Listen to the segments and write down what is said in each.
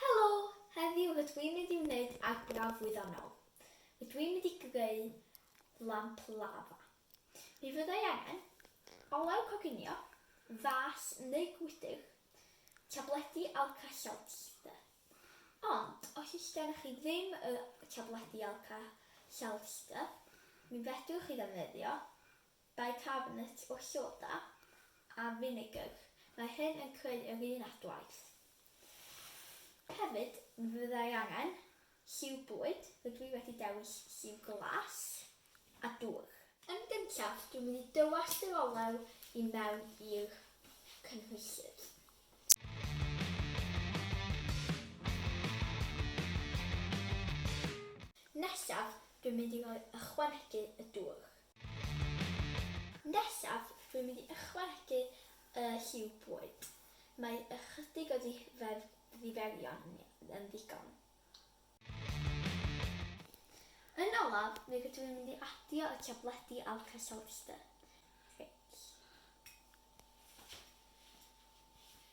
Helo! Heddiw rydw i'n mynd i wneud arbrawf wyddonol. Rydw i'n mynd i greu lamp lafa. Mi fydda i angen olew coginio, fas neu gwydr, tabledi Alka-Seltzer. Ond os oes gennych chi ddim y tabledi Alka-Seltzer, mi fedrwch chi ddefnyddio Bicarbonate o soda a finegr, mae hyn yn creu yr un adwaith. Hefyd, mi fyddai angen lliw bwyd, rydw i wedi dewis lliw glas a dŵr. Yn gyntaf, dwi'n mynd i dywallt yr olew i mewn i'r cynhwysydd. Nesaf, dwi'n mynd i ychwanegu y dŵr. Nesaf, rwy'n mynd i ychwanegu y lliw bwyd. Mae ychydig o ddiferion yn ddigon. Yn olaf, mi rydw i'n mynd i adio y tabledi Alka-Seltzer. Reit.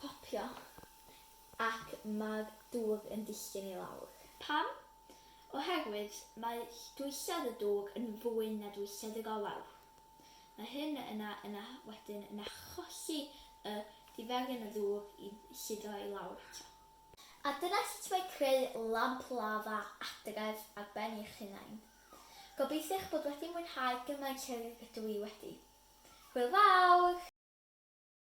Popio, ac mae'r dwg yn disgyn i lawr. Pam? Oherwydd mae dwysedd y dwg yn fwy na dwysedd y golau. Mae hyn yna yna wedyn yn achosi y diferyn o ddwg i suddo i lawr eto. A dyna sut mae creu lamp lafa adref ar ben eich hunain. Gobeithio eich bod wedi mwynhau gymaint ag ydw i wedi. Hwyl fawr!